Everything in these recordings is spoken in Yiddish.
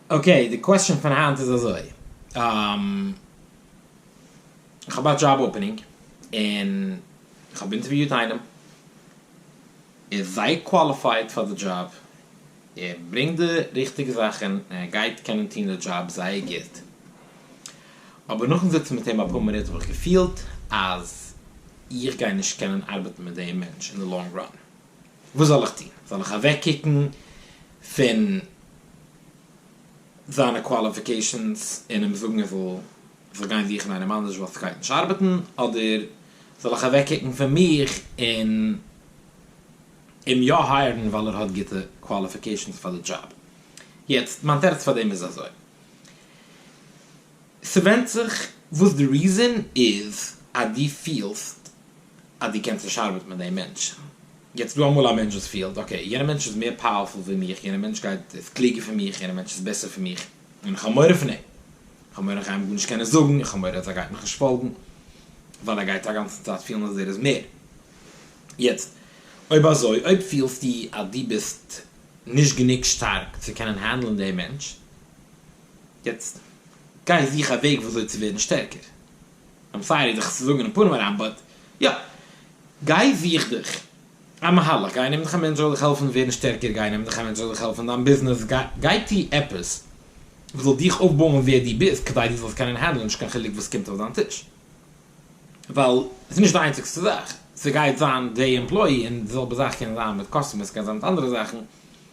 אקעי, די קוועסטשען פון היינט איז אזוי, כ'האב א דזשאב אפענינג און כ'האב אינטערוויוט איינעם, ער איז זייער קוואליפייד פאר די דזשאב, ער ברענגט די ריכטיגע זאכן און ער גייט קענען טון די דזשאב זייער גוט, אבער נאכן זיצן מיט אים אפאר מינוט האב איך געפילט אז איך גיי נישט קענען ארבעטן מיט דעם מענטש אין די לאנג ראן. וואס זאל איך טון? זאל איך אוועקקוקן פון זיינע קוואליפיקעישאנס און אים זאגן ער זאל זיך גיין זוכן איינעם אנדערש ווייל ס'גייט נישט ארבעטן, אדער זאל איך אוועקקוקן פון מיך און אים יא הייערן ווייל ער האט גוטע קוואליפיקעישאנס פאר די דזשאב? יעצט, מיין תירוץ פאר דעם איז אזוי. ס'ווענדט זיך וואס די ריזען איז אז דו פילסט אז דו קענסט נישט ארבעטן מיט דעם מענטש. יעצט דא אמאל א מענטש וואס פילט אקעי יענער מענטש איז מער פאוערפול ווי מיך, יענער מענטש גייט איז קלוגער פון מיך, יענער מענטש איז בעסער פון מיך, און איך האב מורא פון אים, איך האב מורא איך גיי אים גארנישט קענען זאגן, איך האב מורא אז ער גייט מיך נישט פאלגן, ווייל ער גייט אגאנצן צייט פילן אז ער איז מער. יעצט אויב אזוי אויב פילסטו אז דו ביסט נישט גענוג שטארק צו קענען הענדלען דעם מענטש, יעצט גיי זוך א וועג וויאזוי צו ווערן שטערקער, איים סארי דיך צו זאגן אין פנים אריין באט יא, גיי זוך דיך א מהלך, גיי נעם דיך א מענטש זאל דיך העלפן ווערן שטערקער, גיי נעם דיך א מענטש זאל דיך העלפן אין דיין ביזנעס, גיי טו עפעס וואס זאל דיך אויפבויען ווער דו ביסט כדי דו זאלסט קענען הענדלען נישט קיין חילוק וואס קומט אויף דיין טיש, ווייל ס'איז נישט די איינציגסטע זאך, ס'גייט זיין די עמפלאי און די זעלבע זאך קען זיין מיט קאסטומערס, ס'קען זיין מיט אנדערע זאכן.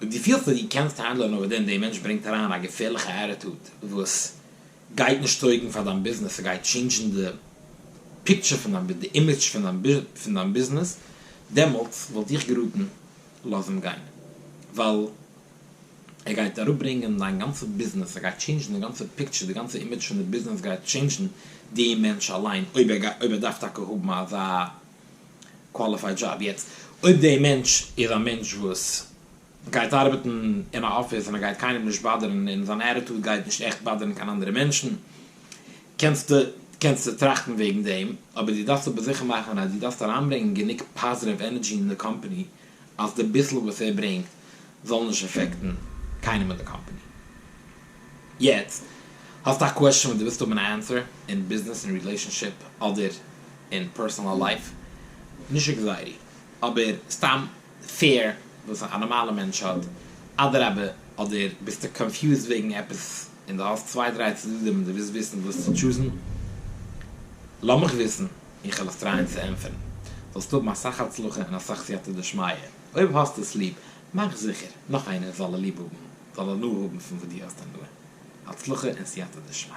אויב דו פילסט אז דו קענסט האנדלען אויף דעם דער מענטש ברענגט אריין א געפערליכע עטיטוד וואס גייט נישט טויגן פאר דיין ביזנעס און גייט טשעינדזשן די פיקטשער פון דיין די אימעדזש פון דיין ביזנעס דעמאלטס וואלט איך געראטן לאז אים גיין ווייל ער גייט אראפברענגען דיין גאנצע ביזנעס ער גייט טשעינדזשן די גאנצע פיקטשער די גאנצע אימעדזש פון די ביזנעס גייט טשעינדזשן די מענטש אליין אויב ער דארף טאקע האבן אזא קוואליפייד דזשאב. יעצט אויב די מענטש איז א מענטש וואס גייט ארבעטן אין א אפיס און ער גייט קיינעם נישט באדערן און זיין עטיטוד גייט נישט עכט באדערן קיין אנדערע מענטשן קענסטו קענסטו טראכטן וועגן דעם אבער דו דארפסט אבער זיכער מאכן אז דו דארפסט אריינברענגען גענוג פאזיטיוו ענערדזשי אין די קאמפאני אז די ביסל וואס ער ברענגט זאל נישט אפעקטן קיינעם אין די קאמפאני. יעצט האסטו א קוועשאן וואס דו ווילסט האבן א ענסער, אין ביזנעס, אין רילעישאנשיפ, אדער אין פערסאנעל לייף, נישט עקזייעטי, אבער סתם פיער וואס א נארמאלע מענטש האט, אדרבה, אדער ביסטו קאנפיוזד וועגן עפעס און דו האסט צוויי דריי צדדים און דו ווילסט וויסן וואס צו טשוזן, לאמיך וויסן. איך וועל עס טרייען צו ענטפערן, זאלסט האבן אסאך הצלחה און אסאך סייעתא דשמיא, אויב האסטו עס ליב, מאך זיכער נאך איינער זאל ליב האבן, זאל הנאה האבן פון וואס דו האסט הנאה, הצלחה און סייעתא דשמיא.